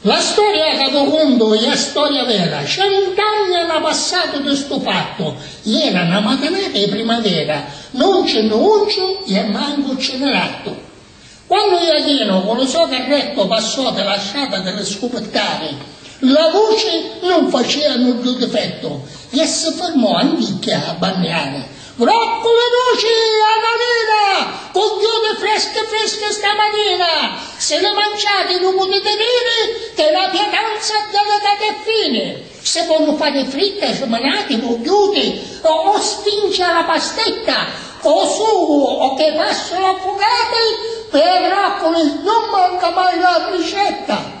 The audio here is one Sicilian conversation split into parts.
La storia ca vu cuntu è a storia vera, cent'anni na passatu di stu fattu, iera na matinata 'i primavera, nun ci nni unciu i e mancu ci nni rattu. Quannu Iachinu cu lu so carrettu passò di la strata di li scupittari, la vuci nun facia nuddu difettu i e si firmò anticchia a banniari. Roccu li duci a na lina! Cugghiuni freschi freschi sta matina! Si li manciati lu putiti diri chi la pietanza è delicata e fini! Si cu lu pani fritta smanati vugghiuti o stinci a la pastetta o sugu o chi fassulu affugati, pi a Roccu nun manca mai la ricetta!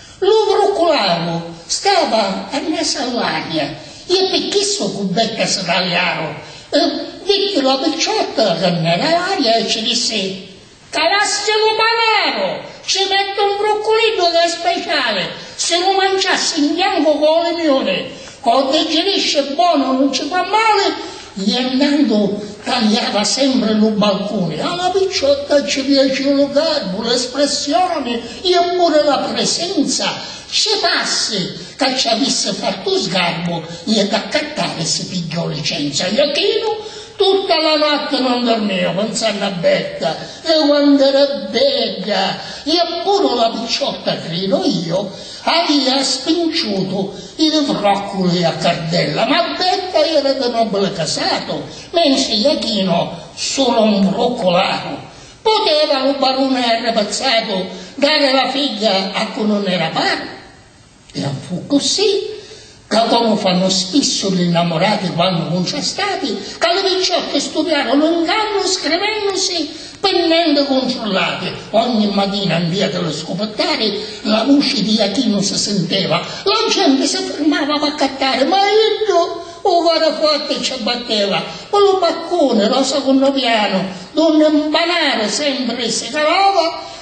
Lu vruccularu stava a mesa all'aria e pi chissu cu becca si taliaru e vitti la picciotta ca n'era l'aria e ci dissi, Calassi lu panaru! Ci mettu un vrucculiddu ca è speciali, si lu manciassi 'n biancu cu lu limiuni O digirisci e bonu nun ci fa mali, Iernandu taliava sempri lu balcuni, a la picciotta ci piaciu lu garbu, l'espressioni e puri la prisenza, ci parsi ca ci avissi fattu sgarbu i ed accattari si pigghiò licenza. Iachinu tutta la notti non dormiu pinsannu a Berta e quantu era bedda e puru la picciotta, cridu io, Avia spinciutu i li vròcculi a cardella, ma Betta era di nobili casatu, mentri Jachino sulu un vrucculatu. Puteva lu baruni arrappazzatu dari la figghia a cu nun era pari? E a fu ccussì. Ca comu fannu spissu li nnamurati quannu nun c'è stati, ca li picciocchi studiaru lu ngannu scrivennusi pi nenti cuntrullati, ogni matina nvia di lu scuputtari la vuci di Jachinu si sinteva, la genti si firmava p'accattari ma iddu u cori forti ci batteva, pi lu baccuni ro secunnu pianu, dunni 'n panaru sempri si calava,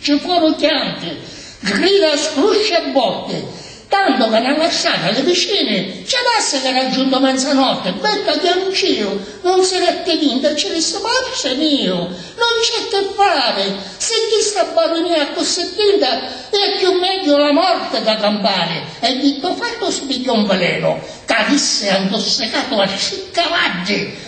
Ci furu chianti, grida, scrusci e botti, tantu ca na marsata li vicini ci dassi ca era giuntu menzanotti, Betta chianciu, nun si detti vinti e ci dissi, Marse miu, nun c'è chi fari, si chista barunia è accussì tinta, è cchiù megghiu la morti ca campari, e dittu fattu si pigghiò un velenu ca avissi antussicatu a tri cavaddi,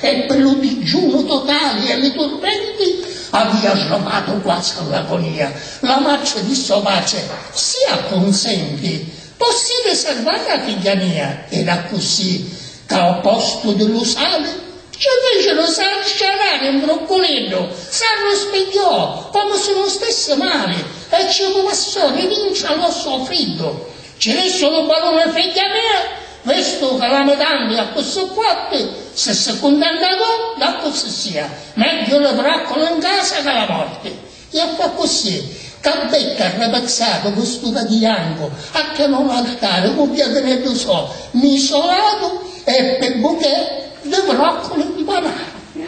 E pi lu dijunu totali e li turmenti avia sromatu quasi a l'agonia. La matri dissi o patri, Si accunsenti, possivi sarvari a figghia mia. Ed accussì, ca o postu di lu sali, ci ficiru sciarari un brucculiddu, s'arruspigghiò comu si nun stissi mali e ci cumassò di vinci a l'ossu o friddu. Ci dissi lu baruni, Figghia mia, Vistu ca la mutandi accussì quatti, si si cuntenta tu, daccu si sia, megghiu li vracculi in casa ca la morti. Ia fa accussì, ca beddu arrapixatu cu stu tatu jancu, acchianu l'altari cu piatineddu so, misolatu e ppi buchè di vracculi mpanatu.